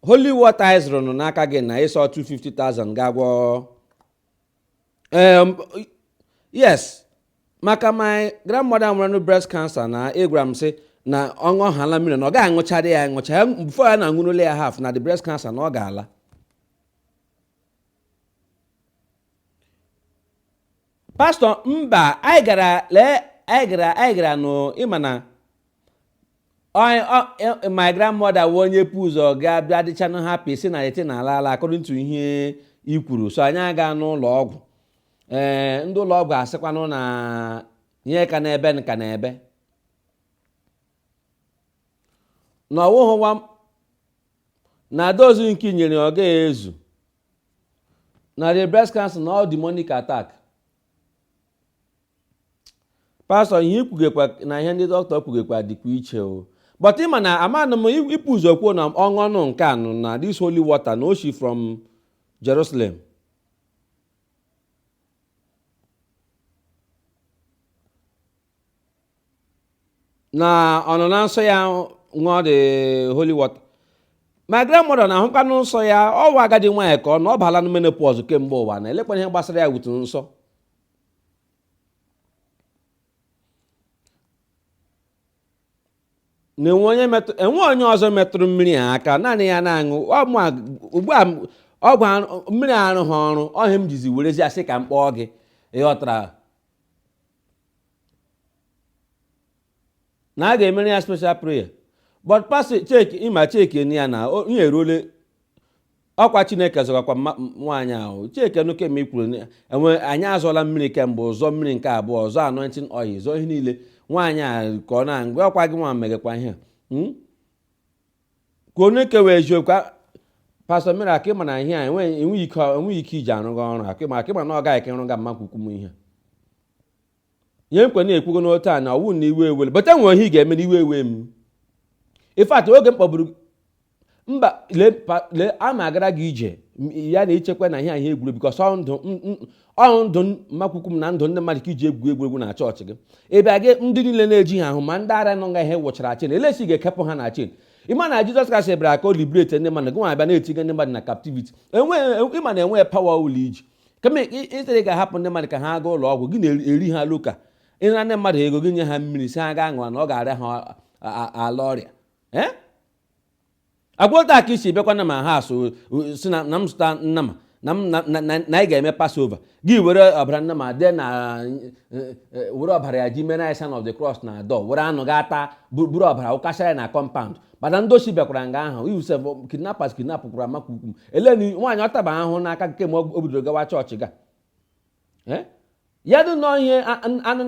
holy water anyị zụrụ nụ n'aka gị na ị sị ọ 250,000 ga-agwọ Em, yes maka my grandmother nwere breast cancer na ị gwara m sị na ọ ṅụọhala mmiri na ọ gaghị aṅụchara ya aṅụcha ya before ya na-aṅụrula ya half na the breast cancer na ọ ga-ala pastọ mba anyị gara lee anyị gara anyị gara nụ ị ma na my grandmother wụ onye pu ụzọ gaa bịa dịchanụ happy sị na the thing na-ala ala according to ihe i kwuru so anyị aga n'ụlọ ọgwụ ee eh, ndị ụlọ ọgwụ asịkwanụ na ihe ka nọ ebe ọ ka nọ ebe na ọ wụhụ wa na dose nke e nyere ọ gaghị ezu na the breast cancer na ọ demonic attack pastọ ihe i kwugekwa na ihe ndị dọkịta kwugekwa dịkwa iche o but ị ma na amanụ m i pu ụzọ kwuo na ọ ṅụnụ nke a nụ na this holy water na o shi from Jerusalem na ọ nọ na nsọ ya ṅụọ the holy water my grandmother na-ahụkwanụ nsọ ya ọ wụ agadi nwaanyị ka ọ na ọ baala na menopause kemgbe ụwa na elekwana ihe gbasara ya wutu nsọ na enwe onye metụ enwe onye ọzọ metụrụ mmiri a aka naanị ya na-aṅụ ọ mụ a- ugbu a m- ọgwụ arụ- mmiri arụghị ọrụ ọ ihe m jizi werezi asị ka m kpọọ gị ị ghọtara na a ga-emere ya special prayer but pastọ cheki ị ma cheki ya na o- ihe eruole ọkwa chineke zọgakwa nwaanyị ahụ chekenụ nke m kwuru enwe anyị azụọla mmiri kemgbe zụọ mmiri nke abụọ zụọ anointing oil zụọ ihe niile nwaanyị a ka ọ na-agụ ọkwa gị nwa megekwa ihe hmm? ka anyị kwuwe eziokwu pastọ mmiri akị ma na ihe a enweghị ike iji arụ gị ọrụ akị ma akị ma na ọ gaghị ka ịrụ ga mma ukwu m ihe ihe nkwe na-ekwugo n'otu a na ọ wụ na iwe ewele but e nwere ihe ị ga-eme n'iwe ewe m in fact oge m kpọburu mba lee a ma agara gị ije ya na i chekwa na ihe a wụ egwuregwu because ọ ndụ ọ wụ ndụ mma ukwu m na ndụ ndị mmadụ ka i ji egwu egwuregwu na chọọchị gị ebe a gị ndị niile na-eji ha ahụ ma ndị ara nọ nga ihe wụchara chain elesi ga-ekepụ ha na chain ị ma na jizọs kraịst bịara ka ọ liberate ndị mmadụ gị nwa abịa na-etiga ndị mmadụ na captivity ị ma na enweghị power ọ wụla i ji kama ị sịrị ga-ahapụ ndị mmadụ ka ha gaa ụlọ ọgwụ gị na-eri ha loka ị nara ndị mmadụ ego gị nye ha mmiri sị ha gaa ṅụọ na ọ ga-arịa ha ala ọrịa agwụ otu a ka i si bịakwa na my house sị na m zụta nnama na anyị ga-eme Passover gị were ọbara nnama dee na e, e, were ọbara ya ji mere anyị sign of the cross na door were anụ gaa taa buru ọbara wụkasịa ya na compound mana ndị oshi bịakwara nga ahụ even sef kidnappers kidnapụkwara mmakwukwu eleni nwaanyị ọtaba ahụ n'aka kemgbe o bidoro gawa chọọchị ga eh? ya dị nọ ihe anụ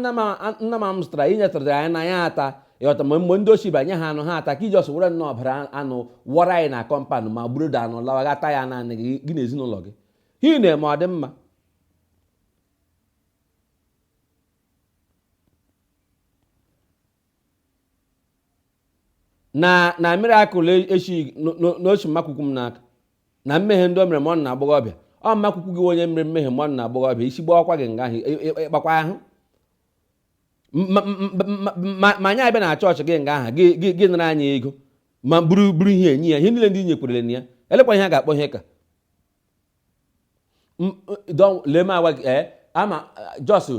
nama m zụtara i nyetụrụ anyị na ya ata ị ghọta ma mgbe ndị oshi banye ha anụ ha ata ka ị just were nnọọ ọbara anụ wụọrọ anyị na compound ma buru da anụ lawa gaa taa ya naanị gị gị na ezinụlọ gị ihe ị na-eme ọ dị mma na na miracle ị shị na o shi mmakwukwu m n'aka na mmehie ndị o mere ma ọ nọ n'agbọghọbịa ọ mmakwukwu gị onye mere mmehie ma ọ nọ n'agbọghọbịa isi gbawakwa gị nga ahụ ịkpakwa ahụ ma anyị abịa na chọọchị gị nga ahụ gị nara anyị ego ma buru buru ihe enyi ya ihe niile ndị nyekwerere na ya elekwa ihe a ga-akpọ ihe ka lee m agwa gị ee ama just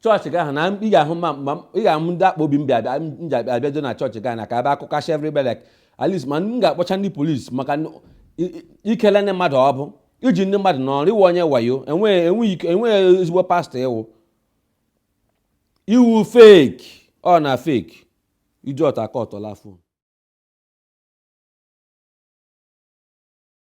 chọọchị gị ahụ na ị ga-ahụ ma ị ga-ahụ ndị akpụ obi m bịa bịa m ji abịa abịado na chọọchị gị na ka ebe akụkasha everybody like at least ma m ga-akpọcha ndị polisi maka ikele ndị mmadụ ọ bụ iji ndị mmadụ n'ọrụ ị wụ onye wayo enweghị ezigbo pastọ ị wụ ị wụ fake ọ na fake iji ọta aka ọtọla fon